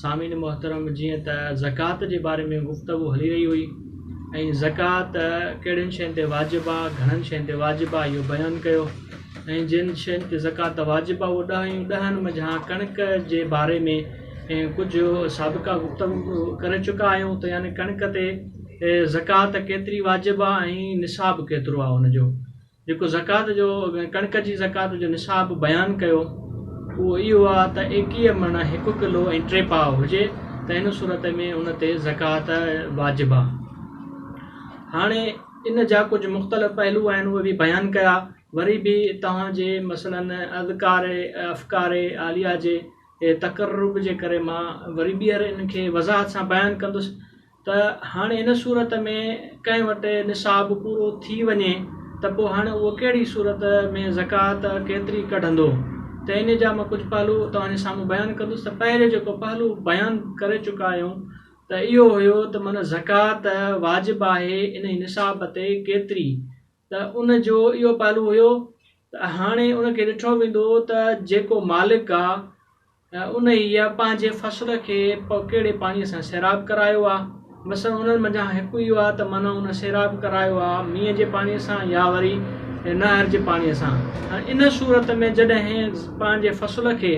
سامعين محترم جيئن ته زڪوات جي باري ۾ گفتگو هلي رهي هئي ۽ زڪوات ڪهڙين شين تي واجب آ گهڻن شين تي واجب آ اهو بيان ڪيو ۽ جن شين تي زڪوات واجب آ اهو ڏهه آيون ڏهن منجهان ڪڻڪ جي باري ۾ ڪجهه سابقا گفتگو ڪري چڪا آهيون ته يعني ڪڻڪ تي زڪوات ڪيتري واجب آ ۽ نصاب ڪيترو آ ان جو جيڪو زڪوات جو ڪڻڪ جي زڪوات جو نصاب بيان ڪيو اهو اهو آهي ته ايڪيهه مڻ هڪ ڪلو ۽ ٽي پاء هجي ته ان صورت ۾ ان تي زڪوات واجب آهي هاڻي ان جا ڪجهه مختلف پهلو آهن اهي به بيان ڪيا وري به توهان جي مثلاً اذڪار افڪار عاليه جي تقرب جي ڪري مان وري ٻيهر ان کي وضاحت سان بيان ڪندس ته هاڻي ان صورت ۾ ڪنهن وٽ نصاب پورو ٿي وڃي ته پوء هاڻي اهو ڪهڙي صورت ۾ زڪوات ڪيتري ڪڍندو ته ان جا مان ڪجهه پهلو توهان جي سامهون بيان ڪندس ته پهريون جيڪو پهلو بيان ڪري چڪا آهيون ته اهو هيو ته معنيٰ زڪوات واجب آهي انهي نصاب تي ڪيتري ته ان جو اهو پهلو هيو ته هاڻي ان کي ڏٺو ويندو ته جيڪو مالڪ آ انهيء پنهنجي فصل کي ڪهڙي پاڻيء سان سيراب ڪرايو آ؟ مثلاً انهن منجهان هڪ اهو آ ته معنيٰ ان سيراب ڪرايو آ مينهن جي پاڻيء سان يا وري نهر جي پاڻيء سان. ان صورت ۾ جڏهن پنهنجي فصل کي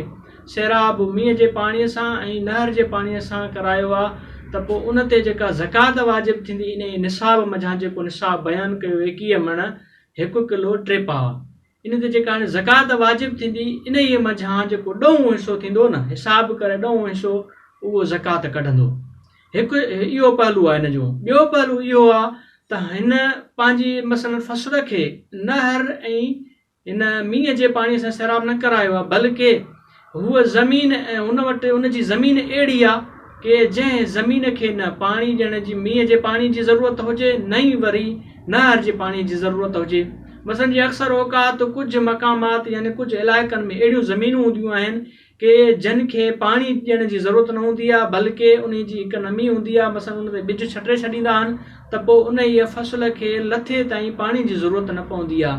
سيراب مينهن جي پاڻيء سان ۽ نهر جي پاڻيء سان ڪرايو آ ته پوء ان تي جيڪا زڪوات واجب ٿيندي انهيء نصاب منجهان جيڪو نصاب بيان ڪيو ايڪيهه مڻ، هڪ ڪلو ٽي پاء، ان تي جيڪا هاڻي زڪوات واجب ٿيندي انهيء منجهان جيڪو ڏهون حصو ٿيندو نه حساب ڪري ڏهون حصو اهو زڪوات ڪڍندو هڪ اهو پهلو آهي هن جو ٻيو پهلو اهو آهي ته هن پنهنجي مثلا فصل کي نهر ۽ هن مينهن جي پاڻي سان سيراب نه ڪرايو آهي بلڪه هوء زمين ۽ هن وٽ هن جي زمين اهڙي آ ڪي جنهن زمين کي نه پاڻي ڏيڻ جي مينهن جي پاڻي جي ضرورت هجي نه ئي وري نهر جي پاڻي جي ضرورت هجي مثلا جي اڪثر اوقات ڪجهه مقامات يعني ڪجهه علائقن ۾ اهڙيون زمينون هونديون آهن ڪي جن کي پاڻي ڏيڻ جي ضرورت نه هوندي آ بلڪه انهي جي اڪنمي هوندي آ مثلا ان تي ٻج ڇٽي ڇڏيندا آهن ته پوء انهيء فصل کي لٿي تائين پاڻي جي ضرورت نه پوندي آهي.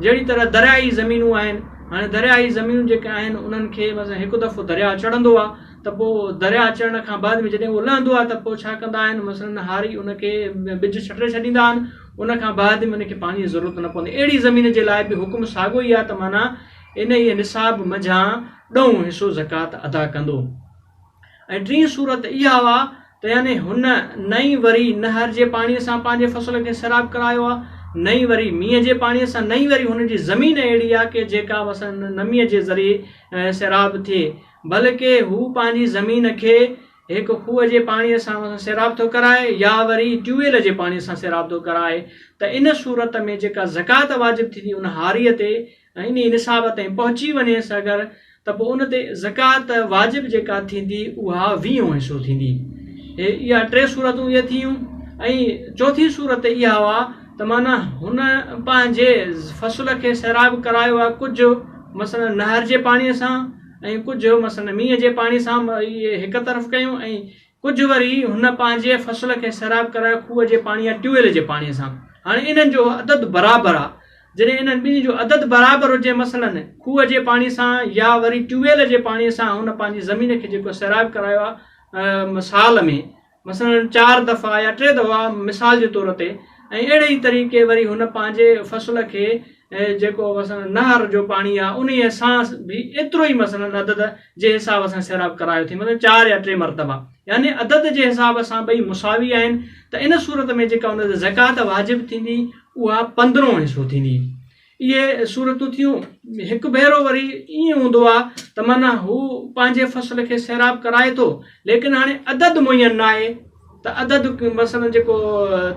جهڙي طرح درياهي زمينون آهن، هاڻي درياهي زمينون جيڪي آهن انهن کي مثلاً هڪ دفعو درياهه چڙهندو آهي ته پوء درياهه چڙهڻ کان بعد ۾ جڏهن اهو لهندو آهي ته پوء ڇا ڪندا آهن مثلاً هاري ان کي ٻج ڇٽي ڇڏيندا آهن ان کان بعد ۾ ان کي پاڻي جي ضرورت نه پوندي. اهڙي زمين جي لاء به حڪم ساڳيو ئي آهي ته معنيٰ انهيء نصاب منجهان ڏهون حصو زڪوات ادا ڪندو. ۽ ٽين صورت اها آهي ته يعني هن نه ئي وري نهر جي پاڻيء سان پنهنجي فصل کي سيراب ڪرايو آهي نه ئي وري مينهن جي پاڻيء سان نه ئي وري هن جي زمين اهڙي آهي ڪي جيڪا مثلاً نميء جي ذريعي سيراب ٿئي بلڪه هو پنهنجي زمين کي هڪ کوهه جي پاڻيء سان مثلاً سيراب ٿو ڪرائي يا وري ٽيويل جي پاڻيء سان سيراب ٿو ڪرائي ته ان صورت ۾ جيڪا زڪوات واجب ٿيندي ان هاريء تي ۽ انهيء نصاب تائين پهچي وڃيس اگر ته پوء ان تي زڪوات واجب جيڪا ٿيندي اها ويهون حصو ٿيندي. هي اها ٽي صورتون اهي ٿيون ۽ چوٿين صورت اها هئا ته معنيٰ هن پنهنجي فصل کي سيراب ڪرايو آهي ڪجهه مثلا نهر جي پاڻيء سان ۽ ڪجهه مثلا مينهن جي پاڻي سان هڪ طرف ڪيون ۽ ڪجهه وري هن پنهنجي فصل کي سيراب ڪرائي کوهه جي پاڻي يا ٽيو ويل جي پاڻي سان هاڻي انهن جو عدد برابر آهي جڏهن انهن ٻنهي جو عدد برابر هجي مثلاً کوهه جي پاڻي سان يا وري ٽيو ويل جي پاڻي سان هن پنهنجي زمين کي جيڪو سيراب ڪرايو آهي سال ۾ مثلاً چار دفعا يا ٽي دفعا مثال جي طور تي ۽ اهڙي ئي طريقي وري هن پنهنجي فصل کي جيڪو مثلاً نهر جو پاڻي آهي انهيء سان به ايترو ئي مثلاً عدد جي حساب سان سيراب ڪرايو ٿي مثلا چار يا ٽي مرتبا يعني عدد جي حساب سان ٻئي مساوي آهن ته ان صورت ۾ جيڪا ان تي زڪات واجب ٿيندي اها پندرهون حصو ٿيندي اهي صورتون ٿيون هڪ ڀيرو وري ائين هوندو آهي ته معنيٰ هو پنهنجي فصل کي سيراب ڪرائي ٿو ليڪن هاڻي عدد معين ناهي ته عدد مثلا جيڪو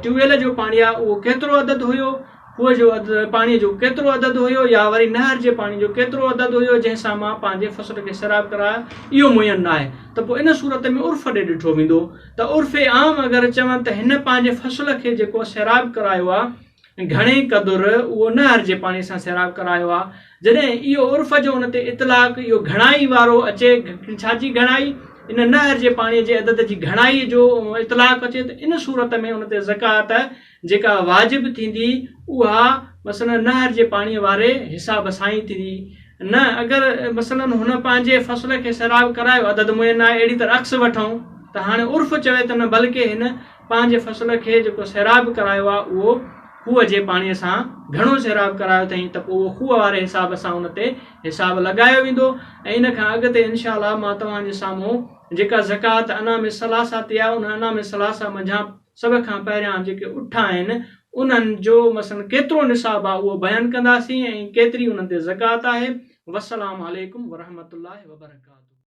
ٽيوبويل جو پاڻي آهي اهو ڪيترو عدد هيو کوهه جو پاڻي جو ڪيترو عدد هيو يا وري نهر جي پاڻي جو ڪيترو عدد هيو جنهن سان مان پنهنجي فصل کي سيراب ڪرايا اهو معين نه آهي ته پوء ان صورت ۾ عرف ڏي ڏٺو ويندو ته عرف عام اگر چون ته هن پنهنجي فصل کي جيڪو سيراب ڪرايو آهي گهڻي قدر اهو نه هرجي پاڻي سان سيراب ڪرايو آ. جڏهن اهو عرف جو ان تي اطلاق اهو گهڻائي وارو اچي، ڇا جي گهڻائي؟ ان نه هرجي پاڻي جي عدد جي گهڻائي جو اطلاق اچي ته ان صورت ۾ ان تي زڪوات جيڪا واجب ٿيندي اها مثلاً نه هرجي پاڻي واري حساب سان ئي ٿيندي نه اگر مثلاً هن پنهنجي فصل کي سيراب ڪرايو عدد معين آهي اهڙي طرح عڪس وٺون ته هاڻي عرف چوي ته نه بلڪه هن پنهنجي فصل کي جيڪو سيراب ڪرايو آهي اهو کوهه جي پاڻيء سان گهڻو سيراب ڪرايو اٿئين ته پوء اهو کوهه واري حساب سان ان تي حساب لڳايو ويندو ۽ ان کان اڳتي ان شاء الله مان توهان جي سامهون جيڪا زڪوات انعام الثلاثه تي آهي انهن انعام الثلاثه منجهان سڀ کان پهريان جيڪي اٺ آهن انهن جو مثلا ڪيترو نصاب آهي اهو بيان ڪنداسين ۽ ڪيتري انهن تي زڪوات آهي والسلام عليڪم ورحمة الله وبرڪاته.